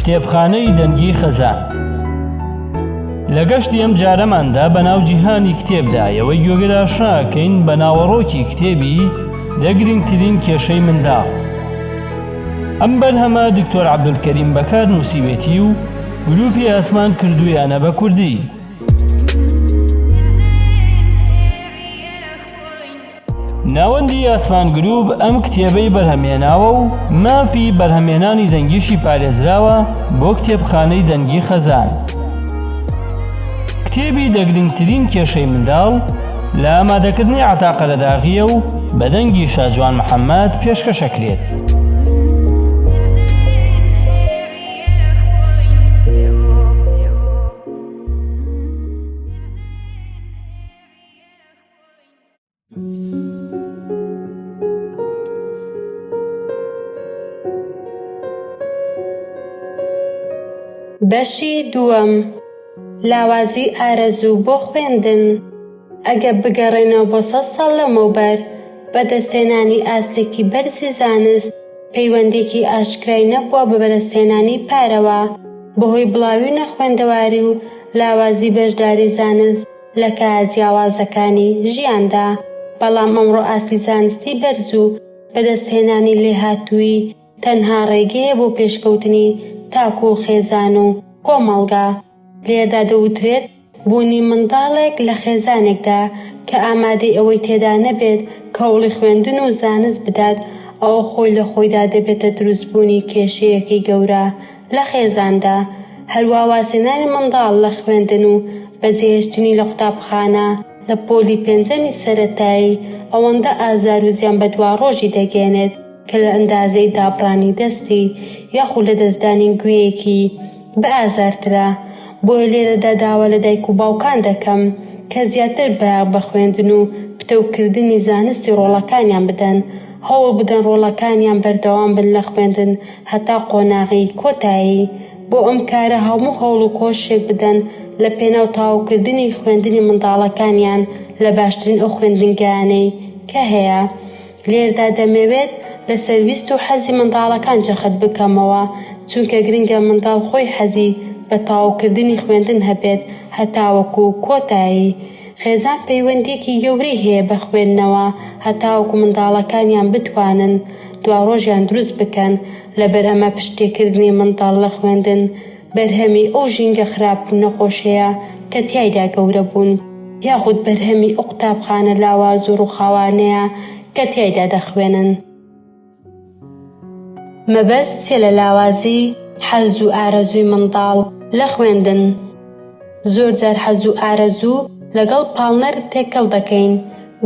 کتێبخانەی دەنگی خەزان لە گەشتی ئەم جارەماندا بە ناو جیهانی کتێبدا یەوەی گوێگرا شاکەین بە ناوەڕۆکی کتێبی دەگرنگترین کێشەی منداڵ ئەم بەرهەمە دکتۆر عبدولکەریم بەکار نووسیوێتی و گروپی ئاسمان کردویانە بە کوردی ناوەندی ئاسمان گرووپ ئەم کتێبەی بەرهەمهێناوە و مافی بەرهەمهێنانی دەنگیشی پارێزراوە بۆ کتێبخانەی دەنگی خەزان. کتێبی دە گرنگترین کێشەی منداڵ لە ئامادەکردنی عەتا قەرەداغییە و بە دەنگی شاجوان محەممەد پێشکەش ئەکرێت. بەشی دووەم، لاوازی ئارەزوو بۆ خوێندن ئەگە بگەڕێنەوە بۆ سەد ساڵ لەمەوبەر، بەدەستهێنانی ئاستێکی بەرزی زانست پەیوەندییەکی ئاشکرای نەبووە بە بەدەستهێنانی پارەوە، بەهۆی بڵاوی نەخوێندەواری و لاوازی بەشداری زانست، لە کایە جیاوازەکانی ژیاندا، بەڵام ئەمڕۆ ئاستی زانستی بەرز و بەدەستهێنانی لێهاتوویی تەنها ڕێگەیە بۆ پێشکەوتنی تاک و خێزان و کۆمەڵگا. لێردا دەوترێت بوونی منداڵێک لە خێزانێکدا کە ئامادەی ئەوەی تێدا نەبێت کەوڵی خوێندن و زانست بدات، ئەوە خۆی لە خۆیدا دەبێتە دروستبوونی کێشەیەکی گەورە، لە خێزاندا، هەروا وازهێنانی منداڵ لە خوێندن و بەجێهێشتنی لە قوتابخانە لە پۆلی پێنجەمی سەرەتایی ئەوەندە ئازار و زیان بە دواڕۆژی دەگەیەنێت کە لە ئەندازەی دابڕانی دەستی یاخو لەدەستدانی گوێیەکی بە ئازارترە بۆیە لێرەدا داوا لە دایک و باوکان دەکەم کە زیاتر بایەخ بە خوێندن و پتەوکردنی زانستی ڕۆڵەکانیان بدەن هەوڵ بدەن ڕۆڵەکانیان بەردەوام بن لە خوێندن هەتا قۆناغی کۆتایی بۆ ئەم کارە هەموو هەوڵ و کۆششێک بدەن لە پێناو تەواوکردنی خوێندنی منداڵەکانیان لە باشترین ئەو خوێندنگایانەی کە هەیە لێردا دەمەوێت لەسەر ویست و حەزی منداڵەکان جەخت بکەمەوە چونکە گرنگە منداڵ خۆی حەزی بە تەواوکردنی خوێندن هەبێت هەتاوەکو کۆتایی خێزان پەیوەندییەکی گەورەی هەیە بە خوێندنەوە، هەتاوەکو منداڵەکانیان بتوانن دواڕۆژیان دروست بکەن، لەبەر ئەمە پشتتێکردنی منداڵ لە خوێندن بەرهەمی ئەو ژینگە خراپ و نەخۆشەیە کە تیایدا گەورە بوون، یاخود بەرهەمی ئەو قوتابخانە لاواز و ڕووخاوانەیە کە تیایدا دەخوێنن. مەبەست چیە لە لاوازی حەز و ئارەزووی منداڵ لە خوێندن؟ زۆر جار حەز و ئارەزوو لەگەڵ پاڵنەر تێکەڵ دەکەین،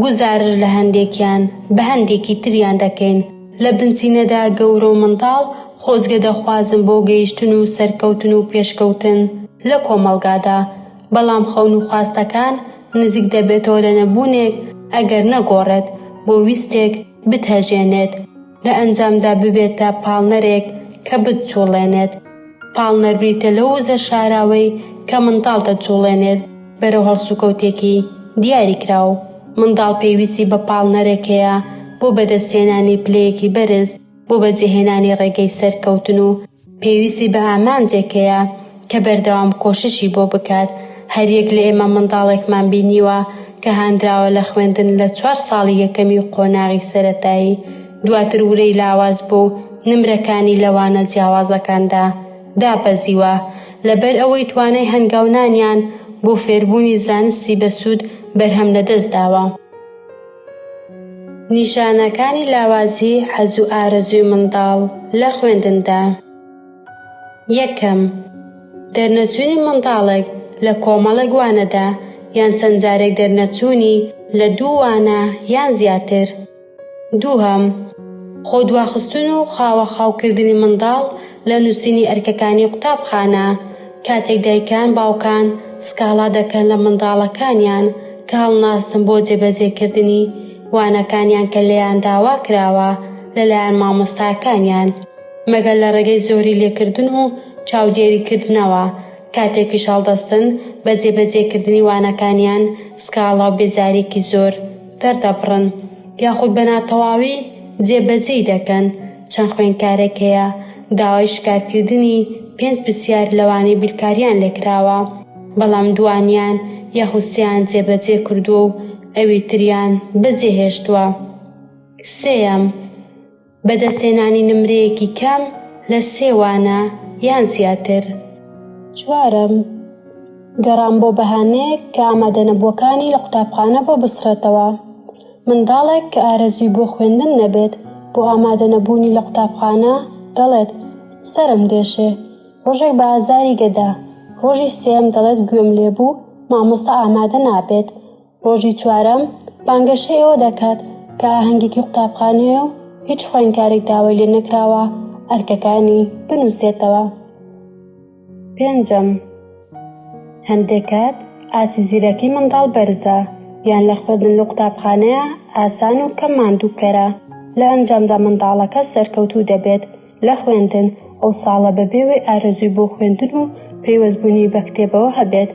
گوزارش لە هەندێکیان بە هەندێکی تریان دەکەین، لە بنچینەدا گەورە و منداڵ خۆزگە دەخوازن بۆ گەیشتن و سەرکەوتن و پێشکەوتن لە کۆمەڵگادا، بەڵام خەون و خواستەکان نزیک دەبێتەوە لە نەبوونێک ئەگەر نەگۆڕێت بۆ ویستێک، بتهەژێنێت، لە ئەنجامدا ببێتە پاڵنەرێک کە بتجوڵێنێت، پاڵنەر بریتە لەو وزە شاراوەی کە منداڵ دەجوڵێنێت بەرەو هەڵسوکەوتێکی دیاریکراو، منداڵ پێویستی بە پاڵنەرێک هەیە بۆ بەدەستهێنانی پلەیەکی بەرز بۆ بەجێهێنانی ڕێگەی سەرکەوتن و پێویستی بە ئامانجێک هەیە کە بەردەوام کۆششی بۆ بکات، هەریەک لە ئێمە منداڵێکمان بینیوە کە هاندراوە لە خوێندن لە چوار ساڵی یەکەمی و قۆناغی سەرەتایی، دواتر ورەی لاواز بوو و نمرەکانی لە وانە جیاوازەکاندا دابەزیوە، لەبەر ئەوەی توانای هەنگاونانیان بۆ فێربوونی زانستی بەسوود بەرهەم لەدەستداوە. نیشانەکانی لاوازی حەز و ئارەزووی منداڵ لە خوێندندا یەکەم، دەرنەچوونی منداڵێک لە کۆمەڵێک وانەدا یان چەند جارێک دەرنەچوونی لە دوو وانە یان زیاتر. دووهەم، خۆدواخستن و خاوەخاوکردنی منداڵ لە نووسینی ئەرکەکانی قوتابخانە، کاتێک دایکان، باوکان سکاڵا دەکەن لە منداڵەکانیان کە هەڵناستن بۆ جێبەجێکردنی وانەکانیان کە لێیان داوا کراوە لەلایەن مامۆستاکانیان، مەگەر لە ڕێگەی زۆری لێکردن و چاودێریکردنەوە، کاتێکیش هەڵدەستن بە جێبەجێکردنی وانەکانیان سکاڵا و بێزارییەکی زۆر دەردەبڕن، یاخود بە ناتەواوی جێبەجێی دەکەن. چەند خوێندکارێک هەیە داوای شکارکردنی پێنج پرسیار لەوانەی بیرکاریان لێکراوە بەڵام دووانیان یاخود سێیان جێبەجێ کردووە و ئەوی تریان بەجێهێشتووە. سێیەم، بەدەستهێنانی نمرەیەکی کەم لە سێ وانە یان زیاتر. چوارەم، گەڕان بۆ بەهانەیەک کە ئامادەنەبووەکانی لە قوتابخانە بۆ بسڕێتەوە. منداڵێک کە ئارەزووی بۆ خوێندن نەبێت بۆ ئامادەنەبوونی لە قوتابخانە دەڵێت، سەرم دێشێ. ڕۆژێک بە ئازاری گەدا. ڕۆژی سێیەم دەڵێت گوێم لێبوو، مامۆستا ئامادە نابێت. ڕۆژی چوارەم بانگەشەی ئەوە دەکات کە ئاهەنگێکی قوتابخانەیە و هیچ خوێندکارێک داوای لێنەکراوە ئەرکەکانی بنووسێتەوە. پێنجەم، هەندێک کات ئاستی زیرەکی منداڵ بەرزە یان لە خوێندن لەو قوتابخانەیە ئاسان و کەم ماندووکەرە، لە ئەنجامدا منداڵەکە سەرکەوتوو دەبێت لە خوێندن، ئەو ساڵە بەبێ وەی ئارەزووی بۆ خوێندن و پەیوەستبوونی بە کتێبەوە هەبێت،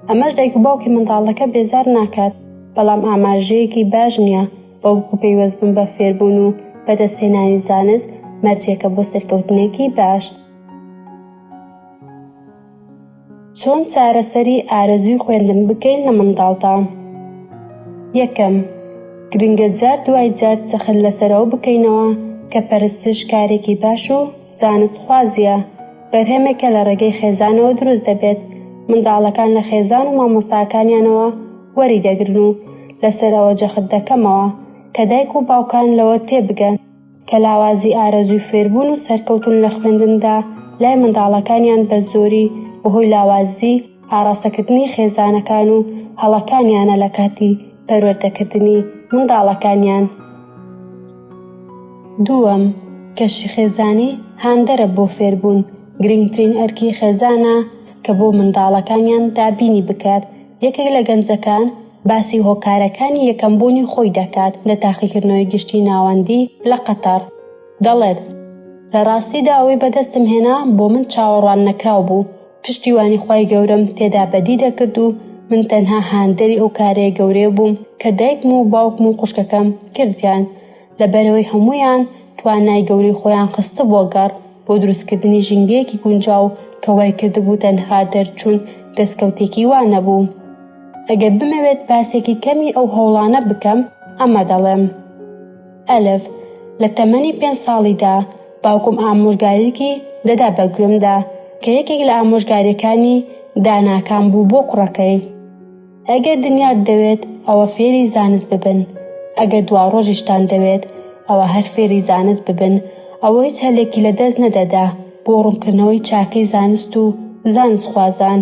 ئەمەش دایک و باوکی منداڵەکە بێزار ناکات، بەڵام ئاماژەیەکی باش نییە، بەڵکو پەیوەستبوون بە فێربوون و بەدەستهێنانی زانست مەرجێکە بۆ سەرکەوتنێکی باش. چۆن چارەسەری ئارەزووی خوێندن بکەین لە منداڵدا یەکەم گرنگە جار دوای جار چەخل لەسەرەوە بکەینەوە کە پەرستش کارێکی باش و زانست خوازیە بەرهەمێکە لە ڕێگەی خێزانەوە دروست دەبێت منداڵەکان لە خێزان و مامۆساکانیانەوە وەری دەگرن و لەسەرەوە جەخت دەکەمەوە کە دایک و باوکان لەوە تێبگەن کە لاوازی ئارەزووی فێربوون و سەرکەوتن لە خوێندندا لای منداڵەکانیان بە زۆری بەهۆی لاوازی ئاڕاستەکردنی خێزانەکان و هەڵەکانیانە لە کاتی پەروەردەکردنی منداڵەکانیان. دووەم، کەشی خێزانی هاندەرە بۆ فێربوون، گرنگترین ئەرکی خێزانە کە بۆ منداڵەکانیان دابینی بکات، یەکێک لە گەنجەکان، باسی هۆکارەکانی یەکەم بوونی خۆی دەکات لە تاقیکردنەوەی گشتی ناوەندی لە قەتەڕ، دەڵێت، لە ڕاستیدا ئەوەی بەدەستم هێنا بۆ من چاوەڕوان نەکراو بوو، پشتیوانی خوای گەورەم تێدا بەدی دەکرد و من تەنها هاندەری ئەو کارێ گەورەیە بووم کە دایکم و باوکم و خوشکەکەم کردیان، لەبەرئەوەی هەموویان توانای گەورەی خۆیان خستبووە گەڕ بۆ دروستکردنی ژینگەیەکی گونجاو کە وای کردبوو تەنها دەرچوون دەستکەوتێکی وا نەبوو. ئەگەر بمەوێت باسێکی کەمی ئەو هەوڵانە بکەم ئەمە دەڵێم. ئەلف، لە تەمەنی پێنج ساڵیدا باوکم ئامۆژگاریکی دەدا بە گوێمدا کە یەکێک لە ئامۆژگاریەکانی داناکان بوو بۆ کوڕەکەی. ئەگەر دنیات دەوێت ئەوە فێری زانست ببن ئەگەر دوا ڕۆژیشتان دەوێت ئەوە هەر فێری زانست ببن ئەوە هیچ هەلێکی لە دەست نەدەدا بۆ ڕوونکردنەوەی چاکەی زانست و زانست خوازان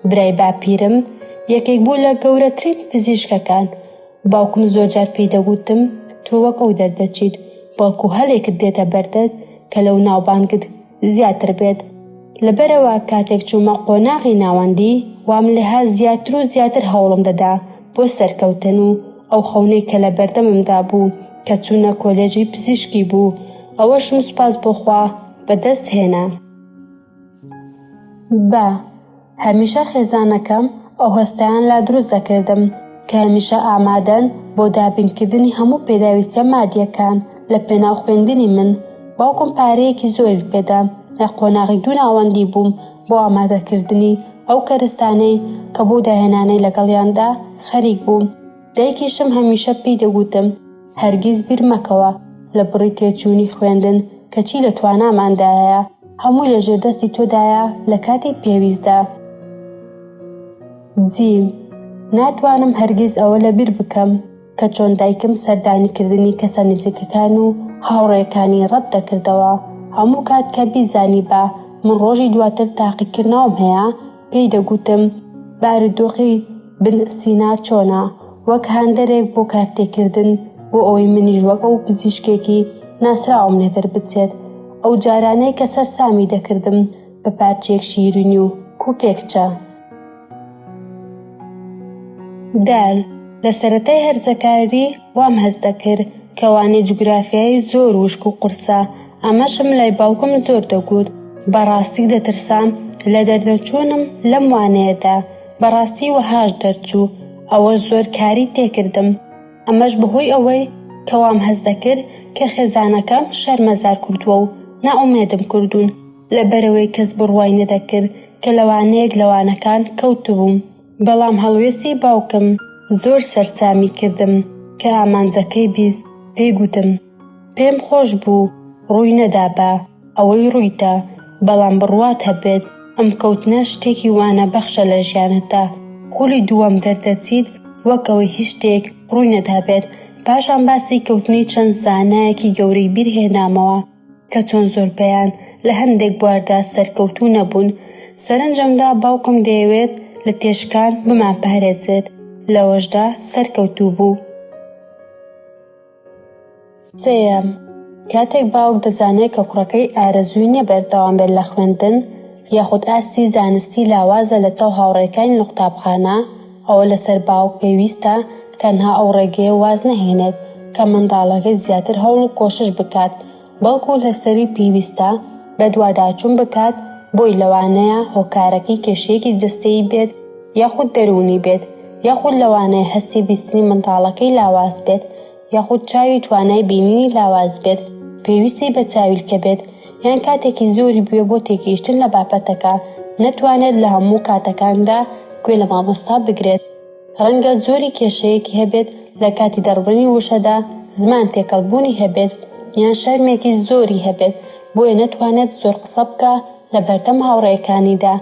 برای باپیرم یەکێک بوو لە گەورەترین پزیشکەکان باوکم زۆر جار پێی دەگوتم تۆ وەک ئەو دەردەچیت بەڵکو هەلێکت دێتە بەردەست کە لەو ناوبانگت زیاتر بێت لەبەرەوە کاتێک چوومە قۆناغی ناوەندی وام لها زیاتر و زیاتر هەوڵم دەدا بۆ سەرکەوتن و ئەو خەونەی کە لە بەردەممدا بوو کە چوونە کۆلێژی پزیشکی بوو ئەوەشم سوپاس بۆخوا بەدەست هێنا بە هەمیشە خێزانەکەم ئەو هەستەیان لا دروست دەکردم کە هەمیشە ئامادەن بۆ دابینکردنی هەموو پێداویستە مادیەکان لە پێناو خوێندنی من باوکم پارەیەکی زۆری پێدا لە قۆناغی دوو ناوەندی بووم بۆ ئامادەکردنی ئەو کەرستانەی کە بۆ داهێنانەی لەگەڵیاندا خەریک بووم دایکیشم هەمیشە پێی دەگوتم هەرگیز بیر مەکەوە لە بڕی تێچوونی خوێندن کەچی لە تواناماندایە، هەمووی لە ژێردەستی تۆدایە لە کاتی پێویستدا. جیم، ناتوانم هەرگیز ئەوە لە بیر بکەم کە چۆن دایکم سەردانیکردنی کەسە نزیکەکان و هاوڕێکانی ڕەت دەکردەوە، هەموو کات کە بیزانیبا من ڕۆژی دواتر تاقیکردنەوەم هەیە، پێی دەگوتم بارودۆخی بن سینا چۆنە وەک هاندەرێک بۆ کارتێکردن بۆ ئەوەی منیش وەک ئەو پزیشکێکی ناسراوم لێدەر بچێت ئەو جارانەی کە سەر سامی دەکردم بە پارچێک شیرنی و کوپێکچە دال لە سەتای هەرزەکاری وام هەست دەکرد کەوانێ جوگرافیایی زۆر وشک و قورسە ئەمەشم لای باوکم زۆر دەگوت، بەڕاستی دەترسام لە دەردەچوونم لەم وانەیەدا، بەڕاستی وەهاش دەرچوو، ئەوە زۆر کاری تێکردم، ئەمەش بەهۆی ئەوەی کە وام هەست دەکرد کە خێزانەکەم شەرمەزار کردووە و نائومێدم کردوون، لەبەرئەوەی کەس بڕوای نەدەکرد کە لە وانەیەک لە وانەکان کەوتبووم، بەڵام هەڵوێستی باوکم زۆر سەرسامی کردم، کە ئامانجەکەی بیست، پێی گوتم. پێم خۆش بوو ڕووی نەدا بە ئەوەی ڕوویدا، بەڵام بڕوات هەبێت ئەم کەوتنە شتێکی وانە بەخشە لە ژیانتدا، خولی دووەم دەردەچیت وەک ئەوەی هیچ شتێک ڕووی نەدابێت، پاشان باسی کەوتنی چەند زانایەکی گەورەی بیر هێنامەوە کە چۆن زۆربەیان لە هەندێک بواردا سەرکەوتوو نەبوون، سەرنجمدا باوکم دەیەوێت لە تێشکان بمانپارێزێت لەوەشدا سەرکەوتوو بوو. سێیەم، کاتێک باوک دەزانێت کە کوڕەکەی ئارەزووی نیە بەردەوام بێت لە خوێندن یاخود ئاستی زانستی لاوازە لە چاو هاوڕێکانی لە قوتابخانە ئەوە لەسەر باوک پێویستە تەنها ئەو ڕێگەیە واز نەهێنێت کە منداڵەکەی زیاتر هەوڵ و کۆشش بکات بەڵکو لەسەری پێویستە بەدواداچون بکات بۆی لەوانەیە هۆکارەکەی کێشەیەکی جەستەیی بێت یاخود دەروونی بێت یاخود لەوانەیە هەستی بیستنی منداڵەکەی لاواز بێت یاخود چاوی توانای بینینی لاواز بێت پێویستی بە چاویلکە بێت یان کاتێکی زۆری بوێ بۆ تێگەیشتن لە بابەتەکە نەتوانێت لە هەموو کاتەکاندا گوێ لە مامۆستا بگرێت ڕەنگە جۆری کێشەیەکی هەبێت لە کاتی دەڕبرنی وشەدا زمان تێکەڵ بوونی هەبێت یان شەرمێکی زۆری هەبێت بۆیە نەتوانێت زۆر قسە بکە لە بەردەم هاوڕێکانیدا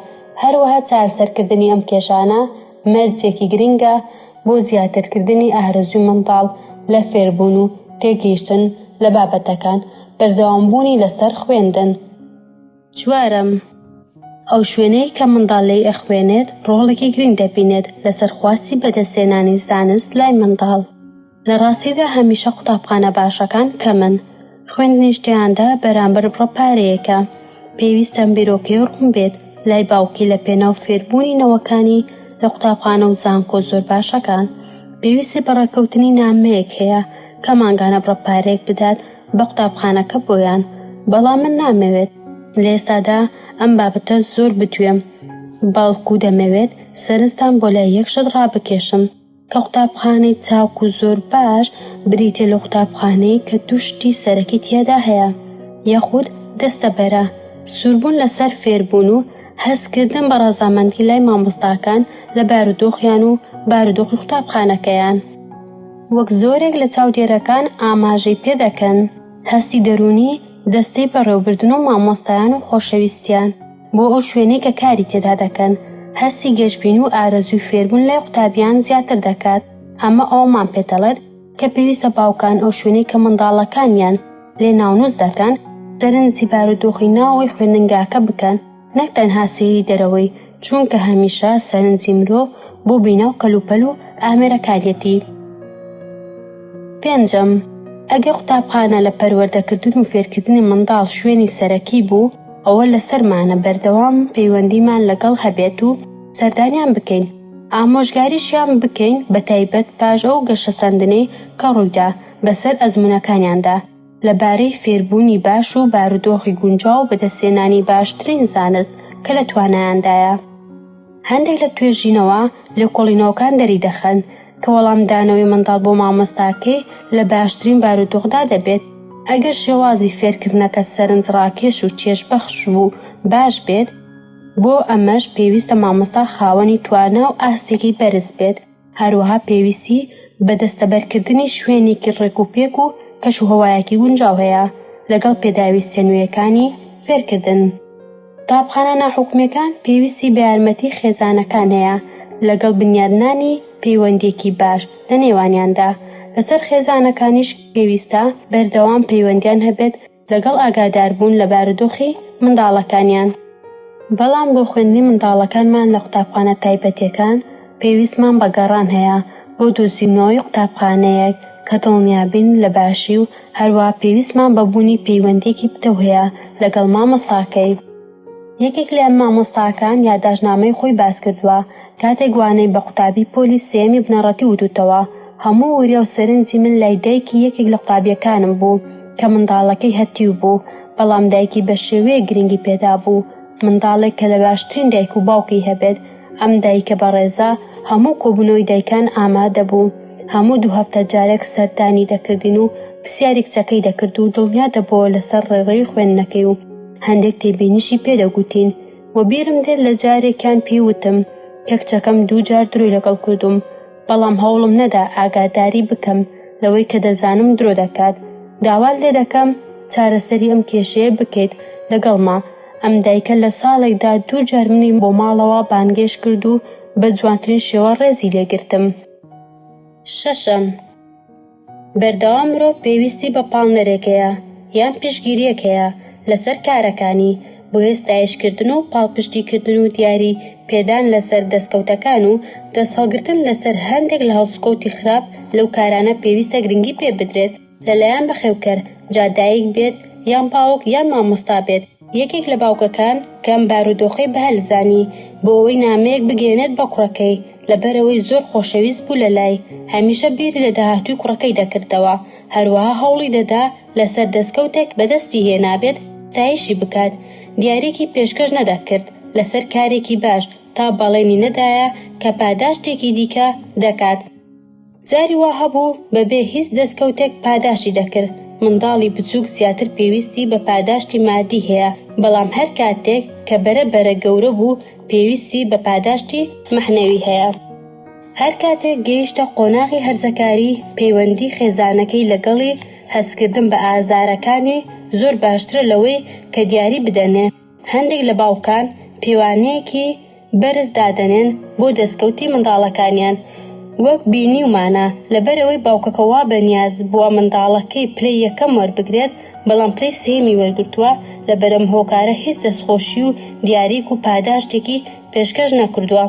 هەروەها چارەسەرکردنی ئەم کێشانە مەرجێکی گرنگە بۆ زیاترکردنی ئارەزوی منداڵ لە فێربوون و تێگەیشتن لە بابەتەکان بەردەوامبوونی لەسەر خوێندن. چوارەم، ئەو شوێنەی کە منداڵ لێی ئەخوێنێت ڕۆڵێکی گرنگ دەبینێت لەسەر خواستی بەدەستێنانی زانست لای منداڵ. لە ڕاستیدا هەمیشە قوتابخانە باشەکان کەمن، خوێندنیش تێیاندا بەرامبەر بڕە پارەیەکە. پێویستە ئەم بیرۆکەیە ڕوون بێت لای باوکی لە پێناو فێربوونی نەوەکانی لە قوتابخانە و زانکۆ زۆر باشەکان. پێویستی بە ڕێکەوتنی نامەیەک هەیە کە مانگانە بڕە پارەیەک بدات بە قوتابخانەکە بۆیان، بەڵام من نامەوێت لە ئێستادا ئەم بابەتە زۆر بدوێم، بەڵکو دەمەوێت سەرنجتان بۆ لای یەک شت ڕابکێشم کە قوتابخانەی چاک و زۆر باش بریتیە لە قوتابخانەیەک کە دوو شتی سەرەکی تیادا هەیە یاخود دەستە بەرە سووربوون لەسەر فێربوون و هەستکردن بە ڕەزامەندی لای مامۆستاکان لە بارودۆخیان و بارودۆخی قوتابخانەکەیان. وەک زۆرێک لە چاودێرەکان ئاماژەی پێدەکەن، هەستی دەروونی دەستەی بەڕێوبردن و مامۆستایان و خۆشەویستیان بۆ ئەو شوێنەی کە کاری تێدا دەکەن، هەستی گەشبینی و ئارەزووی فێربوون لای قوتابیان زیاتر دەکات، ئەمە ئەوەمان پێدەڵێت کە پێویستە باوکان ئەو شوێنەی کە منداڵەکانیان لێ ناونووس دەکەن، سەرنجی بارودۆخی ناوەوەی خوێندنگاکە بکەن. نەک تەنها سەیری دەرەوەی، چونکە هەمیشە سەرنجی مرۆڤ بۆ بیناو کەلوپەل و ئامێرەکانیەتی. پێنجەم، ئەگەر قوتابخانە لە پەروەردەکردن و فێرکردنی منداڵ شوێنی سەرەکی بوو، ئەوە لەسەرمانە بەردەوام پەیوەندیمان لەگەڵ هەبێت و سەردانیان بکەین، ئامۆژگاریشیان بکەین بەتایبەت پاش ئەو گەشەسەندنەی کە ڕوویدا بەسەر ئەزموونەکانیاندا. لە بارەی فێربوونی باش و بارودۆخی گونجاو بەدەستهێنانی باشترین زانست کە لە توانایاندایە. هەندێک لە توێژینەوە لێکۆڵینەوەکان دەریدەخەن کە وەڵامدانەوەی منداڵ بۆ مامۆستاکەی لە باشترین بارودۆخدا دەبێت، ئەگەر شێوازی فێرکردنەکە سەرنجڕاکێش و چێژبەخش و باش بێت، بۆ ئەمەش پێویستە مامۆستا خاوەنی توانا و ئاستێکی بەرز بێت. هەروەها پێویستی بە دەستەبەرکردنی شوێنێکی ڕێکوپێک و کەشوهەوایەکی گونجاو هەیە لەگەڵ پێداویستە نوێیەکانی فێرکردن. قوتابخانە ناحکومییەکان پێویستی بە یارمەتی خێزانەکان هەیە لەگەڵ بنیادنانی پەیوەندیەکی باش لە نێوانیاندا، لەسەر خێزانەکانیش پێویستە بەردەوام پەیوەندیان هەبێت، لەگەڵ ئاگاداربوون لە بارودۆخی منداڵەکانیان. بەڵام بۆ خوێندنی منداڵەکانمان لە قوتابخانە تایبەتیەکان پێویستمان بە گەڕان هەیە بۆ دۆزینەوەی قوتابخانەیەک کە دڵنیابین لە باشی و هەروەها پێویستمان بە بوونی پەیوەندیەکی پتەو هەیە لەگەڵ مامۆستاکەی. یەکێک لە مامۆستاکان یاداشتنامەی خۆی باسکردووە، کاتێک وانەی بە قوتابی پۆلی سێیەمی بنەڕەتی وتووتەوە، هەموو وریا و سەرنجی من لای دایکی یەکێک لە قوتابییەکانم بوو کە منداڵەکەی هەتیو بوو، بەڵام دایکی بە شێوەیەک گرنگی پێدابوو، منداڵێک کە لە باشترین دایک و باوکی هەبێت، ئەم دایکە بەڕێزە هەموو کۆبوونەوەی دایکان ئامادە بوو، هەموو دوو هەفتە جارێک سەردانی دەکردین و پرسیاری کچەکەی دەکرد و دڵنیا دەبووەوە لەسەر ڕێڕەوی خوێندنەکەی و. هەندێک تێبینیشی پێ دەگوتین و بیرم دێت لە جارێکیان پێی وتم کە کچەکەم دوو جار درۆی لەگەڵ کردووم بەڵام هەوڵم نەدا ئاگاداری بکەم لەوەی کە دەزانم درۆ دەکات داوات لێ دەکەم چارەسەری ئەم کێشەیە بکەیت لەگەڵما ئەم دایکە لە ساڵێکدا دوو جار منی بۆ ماڵەوە بانگێش کرد و بە جوانترین شێوە ڕێزی لێگرتم شەشەم بەردەوام مرۆڤ پێویستی بە پاڵنەرێک هەیە یان پشتگیریەک هەیە لەسەر کارەکانی، بۆیە ستایشکردن و پاڵپشتیکردن و دیاری پێدان لەسەر دەستکەوتەکان و دەستهەڵگرتن لەسەر هەندێک لە هەڵسوکەوتی خراپ لەو کارانە پێویستە گرنگی پێبدرێت لەلایەن بەخێوکەر، جا دایک بێت یان باوک یان مامۆستا بێت، یەکێک لە باوکەکان کە ئەم بارودۆخەی بەهەل زانی، بۆ ئەوەی نامەیەک بگەیەنێت بە کوڕەکەی، لەبەرئەوەی زۆر خۆشەویست بوو لە لای، هەمیشە بیری لە داهاتووی کوڕەکەی دەکردەوە، هەروەها هەوڵی دەدا لەسەر دەستکەوتێک بەدەستی هێنابێت ستایشی بکات، دیاریەکی پێشکەش نەدەکرد لەسەر کارێکی باش، تا بەڵێنی نەدایە کە پاداشتێکی دیکە دەکات. جاری وا هەبوو بە بێ هیچ دەستکەوتێک پاداشتی دەکرد. منداڵی بچووک زیاتر پێویستی بە پاداشتی مادی هەیە، بەڵام هەر کاتێک کە بەرە بەرە گەورە بوو پێویستی بە پاداشتی مەعنەوی هەیە. هەر کاتێک گەیشتە قۆناغی هەرزەکاری پەیوەندی خێزانەکەی لەگەڵی هەستکردن بە ئازارەکانی زۆر باشترە لەوەی کە دیاری بدەنێ. هەندێک لە باوکان پێوانەیەکی بەرز دادەنێن بۆ دەستکەوتی منداڵەکانیان، وەک بینیومانە لەبەرئەوەی باوکەکە وا بەنیاز بووە منداڵەکەی پلەی یەکەم وەربگرێت بەڵام پلەی سێیەمی وەرگرتووە، لەبەرئەم هۆکارە هیچ دەستخۆشی و دیاریک و پاداشتێکی پێشکەش نەکردووە.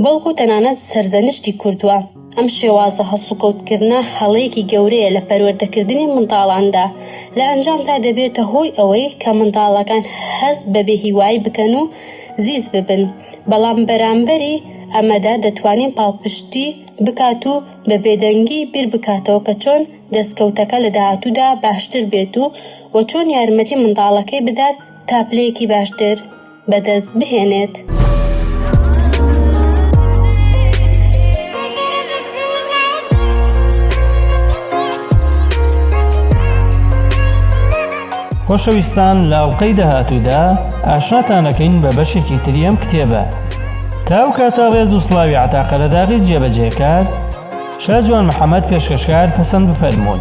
بەڵکو تەنانەت سەرزەنشتی کردووە. ئەم شێوازە هەڵسوکەوتکردنە هەڵەیەکی گەورەیە لە پەروەردەکردنی منداڵاندا، لە ئەنجامدا دەبێتە هۆی ئەوەی کە منداڵەکان هەست بە بێهیوایی بکەن و زیز ببن، بەڵام بەرامبەری ئەمەدا دەتوانین پاڵپشتی بکات و بە بێدەنگی بیربکاتەوە کە چۆن دەستکەوتەکە لە داهاتوودا باشتر بێت و چۆن یارمەتی منداڵەکەی بدات تا پلەیەکی باشتر بەدەست بهێنێت. خۆشەویستان لە ئەڵلقەی داهاتوودا ئاشناتانەکەین بە بەشێکی تری ئەم کتێبە تا ئەو کاتە ڕێز و سلاوی عتاقەرەداغی جێبەجێکار شاجوان محەممەد پێشکەشکار پەسەند بفەرمونون